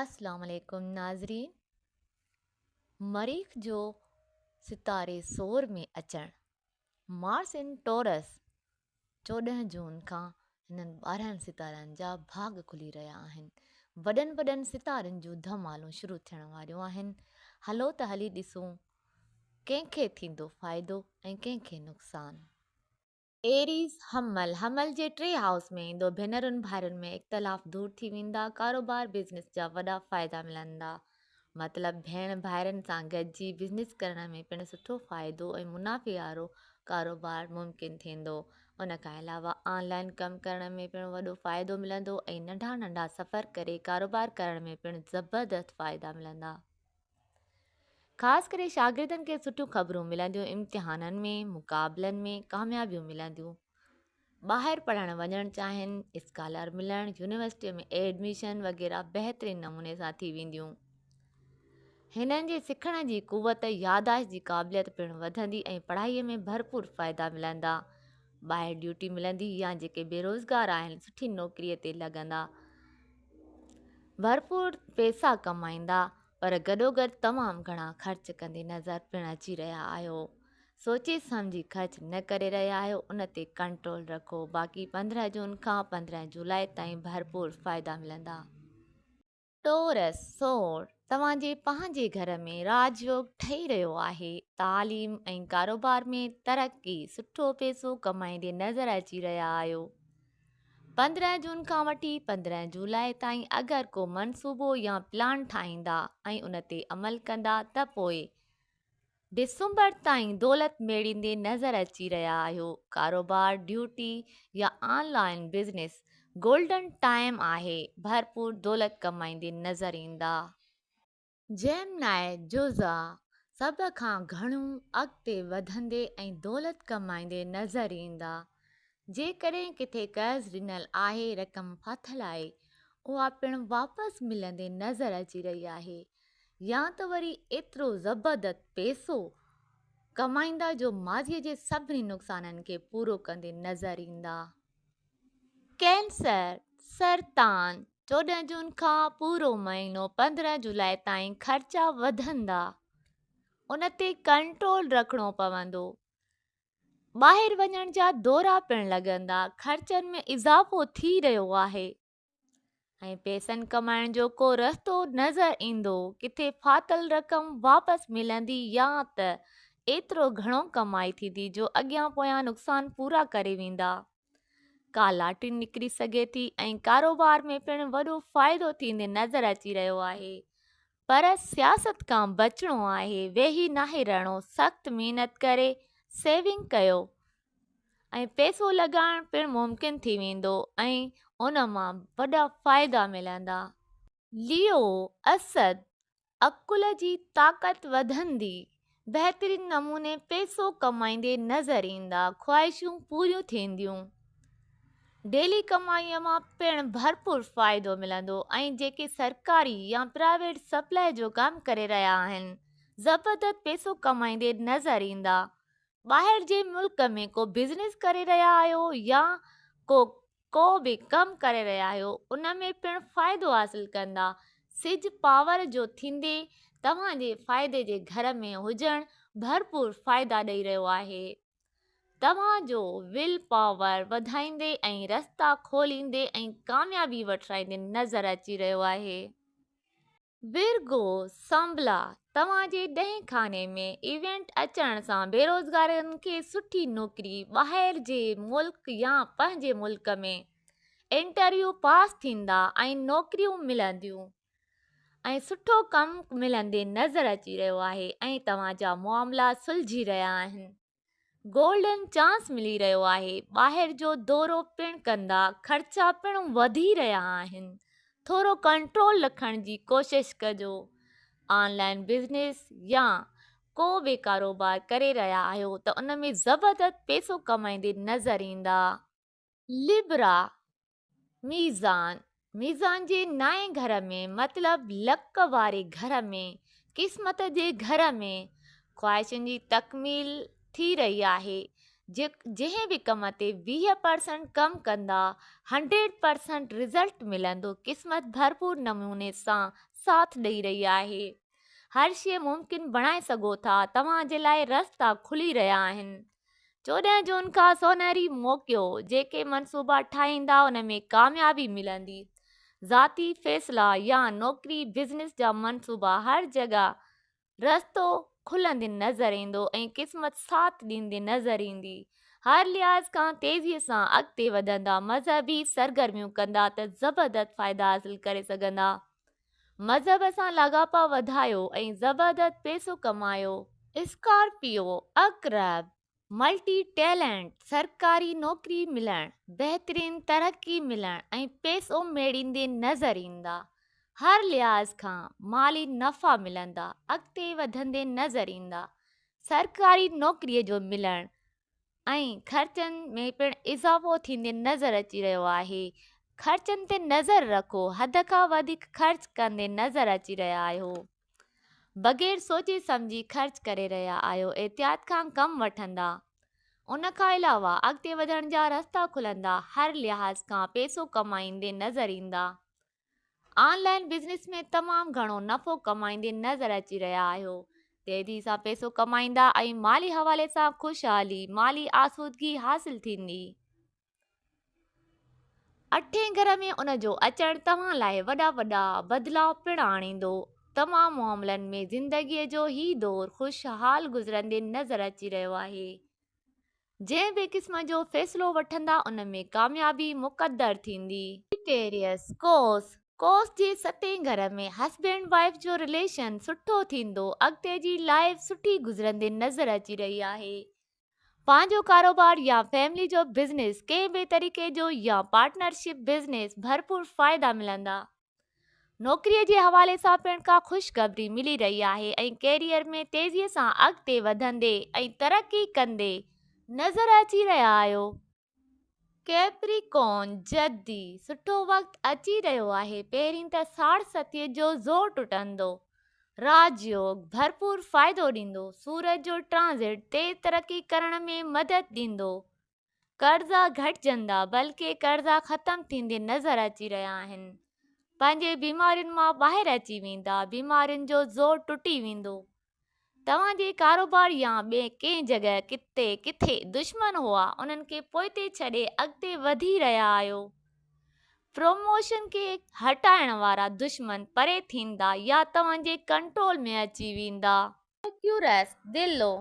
اسلام عليڪم ناظرين مريخ جو ستاري سور ۾ اچڻ Mars in Taurus چوڏهن جون کان هنن ٻارهن ستارن جا ڀاڳ کلي رهيا آهن وڏن وڏن ستارن جون ڌمالون شروع ٿيڻ واريون آهن هلو ته هلي ڏسون ڪنهن کي ٿيندو فائدو ۽ ڪنهن کي نقصان. ايريز، حمل، حمل جي ٽئين هائوس ۾ ايندو، ڀينرن ڀائرن ۾ اختلاف دور ٿي ويندا، ڪاروبار بزنس جا وڏا فائدا ملندا. مطلب ڀيڻ ڀائرن سان گڏجي بزنس ڪرڻ ۾ پڻ سٺو فائدو ۽ منافعي وارو ڪاروبار ممڪن ٿيندو. ان کان علاوه آن لائين ڪم ڪرڻ ۾ پڻ وڏو فائدو ملندو ۽ ننڍا ننڍا سفر ڪري ڪاروبار ڪرڻ ۾ پڻ زبردست فائدا ملندا. خاص ڪري شاگردن کي سٺيون خبرون ملنديون امتحانن ۾ مقابلن ۾ ڪاميابيون ملنديون ٻاهر پڙهڻ وڃڻ چاهين اسڪالر ملڻ يونيورسٽي ۾ ايڊميشن وغيرہ بهترين نموني سان ٿي وينديون هنن جي سکڻ جي قوت ياداشت جي قابليت پڻ وڌندي ۽ پڙهائي ۾ ڀرپور فائدا ملندا ٻاهر ڊيوٽي ملندي يا جيڪي بيروزگار آهن سٺي نوڪري تي لڳندا ڀرپور پئسا ڪمائيندا پر گڏوگڏ تمام گهڻا خرچ ڪندي نظر پڻ اچي رهيا آهيو. سوچي سمجهي خرچ نه ڪري رهيا آهيو ان تي ڪنٽرول رکو باقي پندرهن جون کان پندرهن جولاء تائين ڀرپور فائدا ملندا. ٽورس سور توهان جي پنهنجي گهر ۾ راج يوگ ٺهي رهيو آهي تعليم ۽ ڪاروبار ۾ ترقي سٺو پئسو ڪمائيندي نظر اچي رهيا آهيو. پندرهن جون کان وٺي پندرهن جولاء تائين اگر ڪو منصوبو يا پلان ٺاهيندا ۽ ان تي عمل ڪندا ته پوء ڊسمبر تائين دولت ميڙيندي نظر اچي رهيا آهيو ڪاروبار ڊيوٽي يا online business golden time آهي ڀرپور دولت ڪمائيندي نظر ايندا. جيمناء جوزا سڀ کان گهڻو اڳتي وڌندي ۽ دولت ڪمائيندي نظر ايندا. جيڪڏهن ڪٿي قرض ڏنل آهي رقم ڦاٿل آهي اها پڻ واپس ملندي نظر اچي رهي آهي يا ته وري ايترو زبردت پيسو ڪمائيندا جو ماضي جي سڀني نقصانن کي پورو ڪندي نظر ايندا. ڪينسر، سرطان، چوڏهن جون کان پورو مهينو پندرهن جولاء تائين خرچا وڌندا ان تي ڪنٽرول رکڻو پوندو ٻاهر وڃڻ جا دورا پڻ لڳندا خرچن ۾ اضافو ٿي رهيو آهي ۽ پيسن ڪمائڻ جو ڪو رستو نظر ايندو ڪٿي ڦاٿل رقم واپس ملندي يا ته ايترو گهڻو ڪمائي ٿيندي جو اڳيان پويان نقصان پورا ڪري ويندا ڪا لاٽري نڪري سگهي ٿي ۽ ڪاروبار ۾ پڻ وڏو فائدو ٿيندي نظر اچي رهيو آهي پر سياست کان بچڻو آهي ويهي ناهي رهڻو سخت محنت ڪري سيونگ ڪيو ۽ پئسو لڳائڻ پڻ ممڪن ٿي ويندو ۽ ان مان وڏا فائدا ملندا. ليو اسد عقل جي طاقت وڌندي، بهترين نموني پئسو ڪمائيندي نظر ايندا، خواهشون پوريون ٿينديون، ڊيلي ڪمائي مان پڻ ڀرپور فائدو ملندو ۽ جيڪي سرڪاري يا پرائيويٽ سپلائي جو ڪم ڪري رهيا آهن زبردست پئسو ڪمائيندي نظر ايندا، ٻاهر جي ملڪ ۾ ڪو بزنس ڪري رهيا آهيو يا ڪو ڪو به ڪم ڪري رهيا آهيو ان ۾ پڻ فائدو حاصل ڪندا سج پاور جو ٿيندي توهان جي فائدي جي گهر ۾ هجڻ ڀرپور فائدا ڏئي رهيو آهي توهان جو ول پاور وڌائيندي ۽ رستا کوليندي ۽ ڪاميابي وٺرائيندي نظر اچي رهيو آهي ويرگو سانبلا توهان جي ڏهين خاني ۾ ايونٽ اچڻ سان بيروزگارن کي سٺي نوڪري ٻاهر جي ملڪ يا پنهنجي ملڪ ۾ انٽرويو پاس ٿيندا ۽ نوڪريون ملنديون ۽ سٺو ڪم ملندي نظر اچي رهيو آهي ۽ توهان جا معاملا سلجهي رهيا آهن گولڊن چانس ملي رهيو آهي ٻاهر جو دورو پڻ ڪندا خرچا پڻ وڌي رهيا آهن ٿورو ڪنٽرول رکڻ جي ڪوشش ڪجو آن لائن بزنس يا ڪو به ڪاروبار ڪري رهيا آهيو ته ان ۾ زبردست پيسو ڪمائيندي نظر ايندا لبرا، ميزان، ميزان جي نائين گهر ۾، مطلب لڪ واري گهر ۾، قسمت جي گهر ۾، خواهشن جي تڪميل ٿي رهي آهي، جنهن به ڪم تي ويهه پرسنٽ ڪم ڪندا، هنڊريڊ پرسنٽ رزلٽ ملندو، قسمت ڀرپور نموني سان ساٿ ڏئي رهي آهي، هر شيء ممڪن بڻائي سگهو ٿا، توهان جي لاء رستا کلي رهيا آهن. چوڏهن جون کان سونهري موقعو جيڪي منصوبا ٺاهيندا ان ۾ ڪاميابي ملندي ذاتي فيصلا يا نوڪري بزنس جا منصوبا هر جڳهه رستو کلندي نظر ايندو ۽ قسمت ساٿ ڏيندي نظر ايندي هر لحاظ کان تيزي سان اڳتي وڌندا مذهبي سرگرميون ڪندا ته زبردست فائدا حاصل ڪري سگهندا مذهب سان لاڳاپا وڌايو ۽ زبردت پيسو ڪمايو. اسڪارپيو عقرب ملٽي ٽيلنٽ، سرڪاري نوڪري ملڻ، بهترين ترقي ملڻ ۽ پيسو ميڙيندي نظر ايندا. هر لحاظ کان مالي نفعا ملندا، اڳتي وڌندي نظر ايندا. سرڪاري نوڪري جو ملڻ ۽ خرچن ۾ پڻ اضافو ٿيندي نظر اچي رهيو آهي خرچن تي نظر رکو حد کان وڌيڪ خرچ ڪندي نظر اچي رهيا آهيو بغير سوچي سمجهي خرچ ڪري رهيا آهيو احتياط کان ڪم وٺندا ان کان علاوه اڳتي وڌڻ جا رستا کلندا هر لحاظ کان پيسو ڪمائيندي نظر ايندا آن لائين بزنس ۾ تمام گهڻو نفعو ڪمائيندي نظر اچي رهيا آهيو، تيزي سان پيسو ڪمائيندا ۽ مالي حوالي سان خوشحالي، مالي آسودگي حاصل ٿيندي. اٺين گهر ۾ ان جو اچڻ توهان لاء وڏا وڏا بدلاء پڻ آڻيندو. تمام معاملن ۾ زندگي جو هي دور خوشحال گذرندي نظر اچي رهيو آهي. جنهن به قسم جو فيصلو وٺندا ان ۾ ڪاميابي مقدر ٿيندي. ايڪويريس، قوس، قوس جي ستين گهر ۾ هسبينڊ وائيف جو رليشن سٺو ٿيندو اڳتي جي لائف سٺي گذرندي نظر اچي رهي آهي پنهنجو ڪاروبار يا فيملي جو بزنس ڪنهن به طريقي جو يا پارٽنرشپ بزنس ڀرپور فائدا ملندا نوڪري جي حوالي سان پڻ ڪا خوشخبري ملي رهي آهي ۽ ڪيريئر ۾ تيزي سان اڳتي وڌندي ۽ ترقي ڪندي نظر اچي رهيا آهيو. ڪيپريڪون، جدي، سٺو وقت اچي رهيو آهي، پهرين ته ساڙ ستيء جو زور ٽٽندو، راج يوگ ڀرپور فائدو ڏيندو، سورج جو ٽرانزٽ تيز ترقي ڪرڻ ۾ مدد ڏيندو، قرضا گهٽجندا بلڪه قرضا ختم ٿيندي نظر اچي رهيا آهن پنهنجي بيمارين مان ٻاهر اچي ويندا بيمارين جو زور ٽٽي ويندو توهان جي ڪاروبار يا ٻي ڪنهن جڳهه تي ڪٿي دشمن هئا انهن کي پوئتي ڇڏي اڳتي وڌي رهيا آهيو پروموشن کي هٽائڻ وارا دشمن پري ٿيندا يا توهان جي ڪنٽرول ۾ اچي ويندا ميرڪيورس، دلو،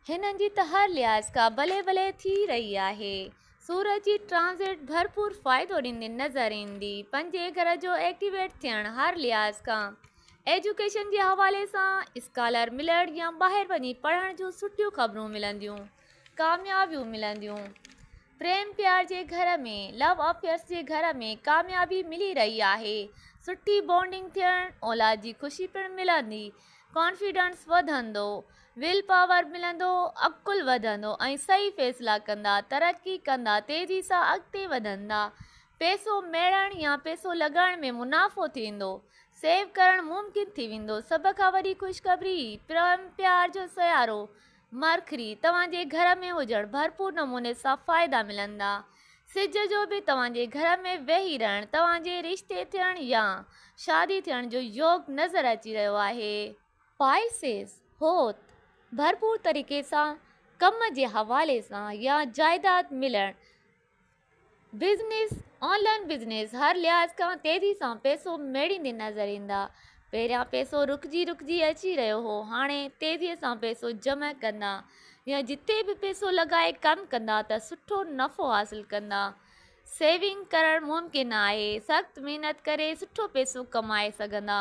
هنن جي ته هر لحاظ کان بلي بلي ٿي رهي آهي. سورج جي ٽرانزٽ ڀرپور فائدو ڏيندي نظر ايندي. پنجين گهر جو ايڪٽيويٽ ٿيڻ هر لحاظ کان ايجوڪيشن جي حوالي سان اسڪالر ملڻ يا ٻاهر وڃي پڙهڻ جون سٺيون خبرون ملنديون، ڪاميابيون ملنديون. پريم پيار جي گهر ۾، لو افيئرس جي گهر ۾ ڪاميابي ملي رهي آهي. سٺي بانڊنگ ٿيڻ، اولاد جي خوشي پڻ ملندي. ڪانفيڊنس وڌندو، ويل پاور ملندو، عقل وڌندو ۽ صحيح فيصلا ڪندا، ترقي ڪندا، تيزي سان اڳتي وڌندا، پئسو ميڙڻ يا پئسو لڳائڻ ۾ منافعو ٿيندو، سيو ڪرڻ ممڪن ٿي ويندو، سڀ کان وڏي خوشخبري پريم پيار جو سيارو، مرڪري توهان جي گهر ۾ هجڻ ڀرپور نموني سان فائدا ملندا. سج جو به توهان جي گهر ۾ ويهي رهڻ توهان جي رشتي ٿيڻ يا شادي ٿيڻ جو يوگ نظر اچي رهيو آهي. پائسيز حوت ڀرپور طريقي سان ڪم جي حوالي سان يا جائداد ملڻ بزنس، آن لائن بزنس هر لحاظ کان تيزي سان پئسو ميڙيندي نظر ايندا. پهريان پئسو رڪجي رڪجي اچي رهيو هو هاڻي تيزي سان پئسو جمع ڪندا يا جتي به پئسو لڳائي ڪم ڪندا ته سٺو نفعو حاصل ڪندا. سيونگ ڪرڻ ممڪن آهي، سخت محنت ڪري سٺو پئسو ڪمائي سگهندا.